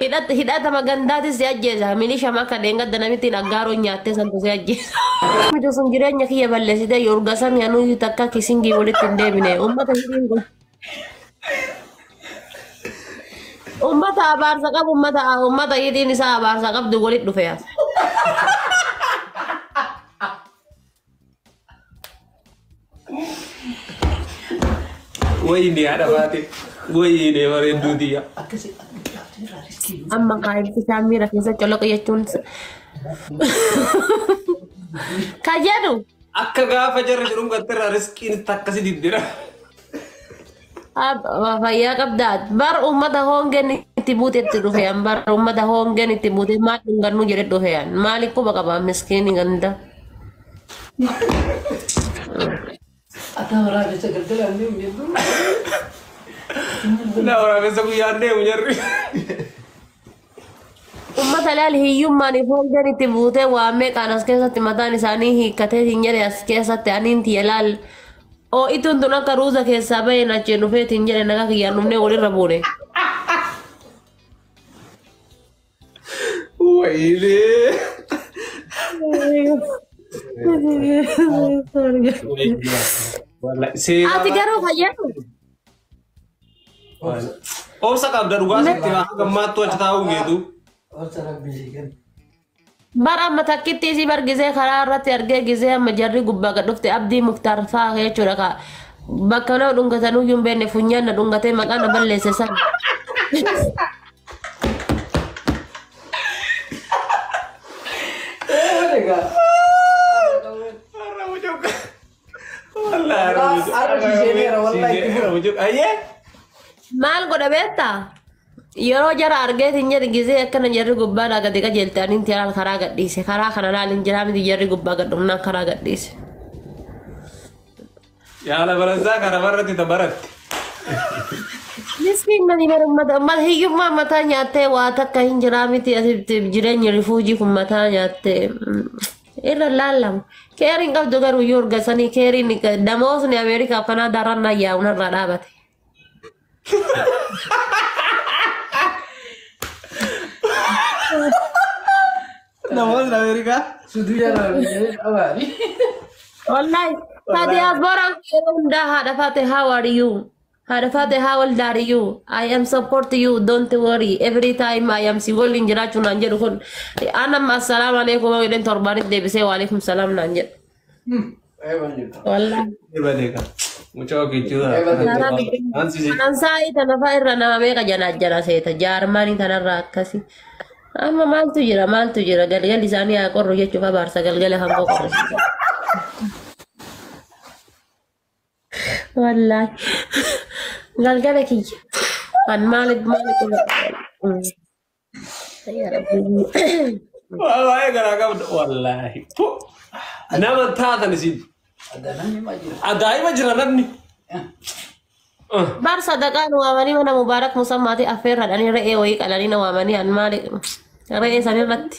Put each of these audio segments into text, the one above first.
Hidhat- Hidhatama gandaatis si ajjeesa. Milisha maka dheengadda namittiin aggaaroon nyaattee santu si ajjeesa. Mijo sun jireenya kiyya balleessite yorga sami anuyyuu takka kisingii walitti hin deebine. Uummata hidhiin kun. Uummata abaarsa qabu uummata uummata hidhiin isaa abaarsa qabdu walitti dhufe. Wayii ni haadha baate. Wayii ni bareedduu tiyya. Amma kaayilti isaa miira keessa coloqa jechuun kan jedhu Akka gaafa jarri jedhuun gattirraa riskiin itti akkasi diddira. Fayyaa qabdaa bar uummata hoongeen itti buutetti dhufean bar uummata hoongeen itti buutee maal dhungannuu jedhe dhufean maali quba qaba miskiini ganda. Akka waraabessa galgala hin deemu jedhu. Naa waraabessa guyyaan deemu jarri. Uummata ilaal hiyyummaan ifoolleen itti buutee waa meeqaan as keessatti mataan isaanii hiikkatee siin jedhe as keessatti aniin tiyya ilaal. Oo'ituun tun akka ruuza keessaa baheen achiin dhufee siin jedhe nagaa kiyyaan dhufnee walirra buune. Wayinee. Ati garuu fayyadu. Obsa qabda dhugaa sitti maa gammaattuu achi taa'uu geetu. Obsa rabbii si kenna. Bara amma takkitti isii bargisee karaa irratti argee gisee amma jarri gubbaa gad dhufte abdii muktaar fa'aa jechuudha ka bakka nama dhungatan uyyuu hin beekne funyaan na dhungatee maqaa na balleesse san. Egaa. Wallahi Arra Arra Arra siiseeneera, wallahi itti siiseeneera, mucuk. Ayyee. Maal godha beektaa? Yeroo jara argee hin jedhe gisee akkana jarri gubbaa naa gadi qajeelte ani inti alaal karaa gadhiise. Karaa kana laal hin jiraa miti jarri gubbaa gad dhumnaan karaa gadhiise. Yaala baransaa kana barratti ta baratte. Miskiin mani bara ummata ummata hiyyummaa mataa nyaattee waa takka hin jiraa miti asitti jireenyi rifuujii kun mataa nyaattee. irra laallamu. Keeriin qabdu garuu yoo urgasanii keeriin damoosni Ameerikaa fi Kanaadaa irra naa yaa'u narraa dhaabate. Namoonni Ameerikaa. Wallahi, ta diasporaan yeroo hundaa haadha faate how are you? Haadha faate haa wal daariyyu. I am support you don't worry every time I am si waliin jiraachuu naan jedhu kun. Anam assalaamu alaikum yoo jedheen torbaanis deebisee waalaikum salaam naan jedhu. Wallaahi. Ebalee kan. Mucaa ofii jira. Kanaa biddeen Ansi si. kanaan saa'ii tanafaa irra nama meeqa janaa jala seeta jaarmaanii tanarraa akkasi. Amma maaltu jira maaltu jira galgalli isaanii haa qorru jechuuf abaarsa galgala hangoo qorrisiisa. Wallaahi. Galgala kiyya. An maali maali qaba. Yaa Rabbi. Waa'ee garaa qabda wallaahi. Tu. Nama taatan isin. Ajaa'ima jira namni. Ah. Bar sadaqaan waamanii mana mubaarak musammaati affeerradhanii re'ee wayii qalanii na waamanii an maali re'ee sanirratti.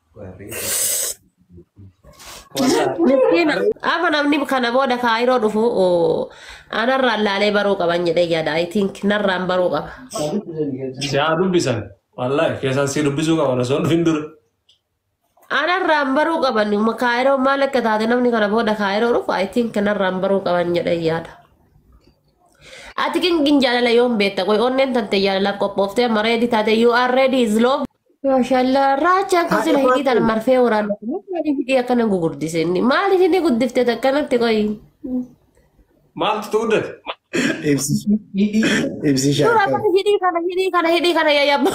Miskiina. Afa namni kana booda kaayiroo dhufu oo, anarraan laalee baruu qaban jedhee yaada. I think narraan baruu qaba. Si haa dubbisan. Wallaahi keessaan si dubbisuu qaba osoo hin dhufin dura. Anarraan baruu qaban ma- kaayiroo maal akka taate namni kana booda kaayiroo dhufu I think narraan baruu qaban jedhee yaada. Ati kingin jaalala yoom beekta? Qoy onneen tante jaalalaaf qophooftee amma ready taate you are ready is love. Maashaallah raacha akka sila hidhii tan marfee waraana maaliif hidhii akkana gugurdise inni maaliif inni guddifte akkanatti qoyi Maaltu tu guddate? Ibsishaa. Ibsishaa. dura akkana hidhii kana hidhii kana hidhii kana yayyabba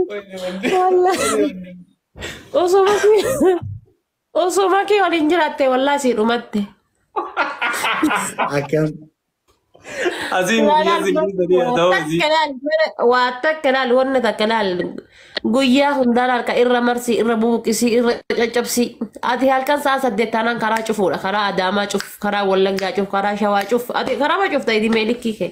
Wayne wande. Wayne wande. osoo masii Osoo makii waliin jiraatte wallaa sii dhumatte. Akkam. Asiin biyya Laal siin laal dhiisanii haa ta'u asii. takka laal mana waa takka laal wanna takka laal guyyaa hundaa laal ka irra marsii irra bubuqisii irra caccabsii ati halkan sa'a saddeet taanaan karaa cufuudha karaa adaamaa cuf karaa wallaggaa cuf karaa shawaa cuf ati karaa ma cufta idimee likkii kee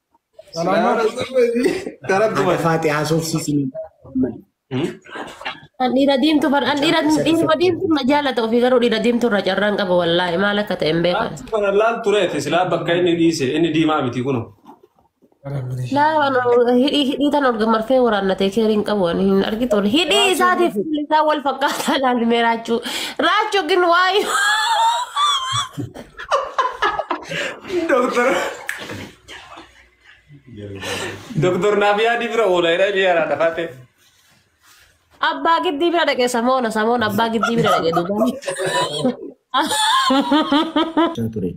Haadha Faaxee haasofsiisni. Kan dhiira diimtu far an dhiira dhiiruma diimtu na jaalata ofii garuu dhiira diimtu irra carraan qaba wallaahi maal akka ta'e hin beekan. Kana laal tureef silaa bakka inni dhiise inni diimaa miti kuno. Laa waan hidhii hidhii tan olga marfee waraannatee keerii hin qabu waan hin argitu ol hidhii isaatiif fuulli isaa wal fakkaataa laal mee raachuu raachuu gin waayuu. Doktor. Doktor naaf yaadi bira oola jedha inni yaraa dhafaate. Abbaa giddii bira dhaqe samoona samoona abbaa giddii bira dhaqe duuba. ture.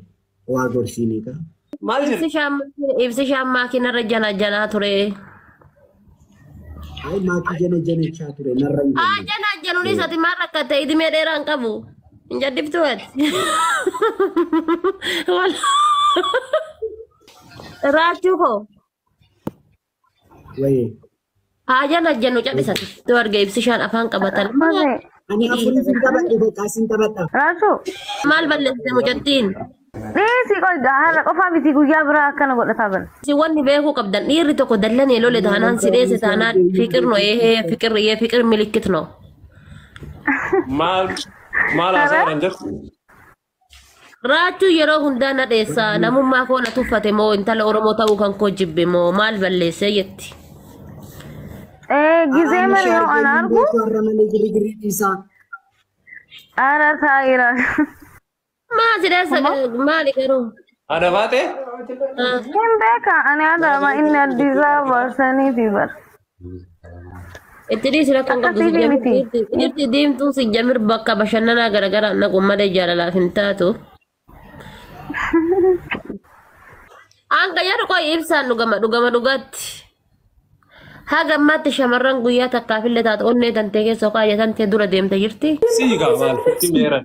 Waa gorsiinii kaa. Maal Ibsi jedhe? shaammaa- ibsi shaammaa kinarra jana janaa ture. Ay maatii jana janachaa ture narra hin Haa jenne. janaa januunis ati maal rakkatte idimee dheeraa hin qabu. Hin jaddiftu ati. Wal- Raachuu koo. Wayee. Haa jennu haa jennu callisan. Yoo arge ibsishaan afaan qabatan. Mame, Ani afurii sin taphadhe bakka sin taphadha. Rasu, Maal balleessite mucattiin? dhiisi qoy har'a qofaa miti guyyaa biraa akkana godhataa bala. Si wanni beekuu qabdan dhiirri tokko dallanee lole taanaan si dheesse taanaan fiqir no eehee fiqir yee fiqir milikkit no. Maal maal haasa'an jirtu? Raachuu yeroo hundaa na dheessa namummaa koo na tuffate moo intala Oromoo ta'uu kan koo jibbe moo maal balleessee jetti. Eh, gisee Aannan mani yoo shaargee ana argu, hundee koorra malee girigirri dhiisaa. ara taa'ira. Maa si dheessa maali garuu? Ana baate? Ah, Hin beeka, ani adama inni Addis Ababa saniiti bara. Itti dhiisi rakkoon Akka qabdu si siifii jamir miti. dhiirti dhiirti deemtuu si jamir bakka bashannanaa garaagaraa naqu malee jaalalaaf hin taatu. Hanga yeroo qoy ibsaan dhugama dhugama dhugaatti. Haga ammaatti shamarran guyyaa takkaaf illee taatu onnee tantee keessoo kaayatan tee dura deemte jirti. Sii gaa maal sitti meeran.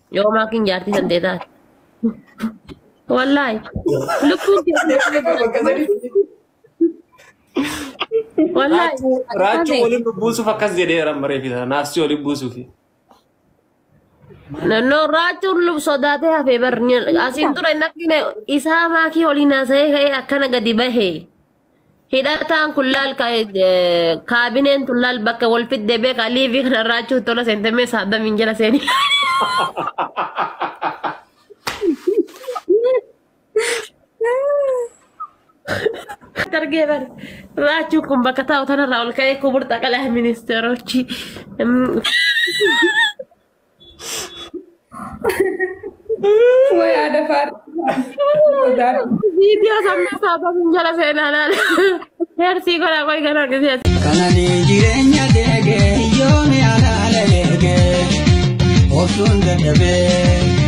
Yoo maakiin jaartii san ta'e taate. Wallaahi. Lubbuun kee. Wallaahi. Raachuu waliin buusuuf akkas jedheera mareefi sana naasii waliin buusuufi. Nannoo raachuun lub sodaatee hafee barni asiin ture nafni isaa maakii waliin haasa'ee ka'ee akkana gadi bahee. Hidhataan kun laal ka- eh, kaabineen tun laal bakka wal fidde beekaa liivii kana irraachuu tola seente mee saadamiin jala seeni. Dargee bari. Raachuu kun bakka taa'u tanarraa ol ka'ee kuburta qalaa ministeeroochi. Way aada faaruu. Viidiyoo sammuu saafamiin jala seenaa laala. Heersii godhaa qoy ganaa gisee. Kanani jireenya keeke yooni alaala eege obsuun dadhabee.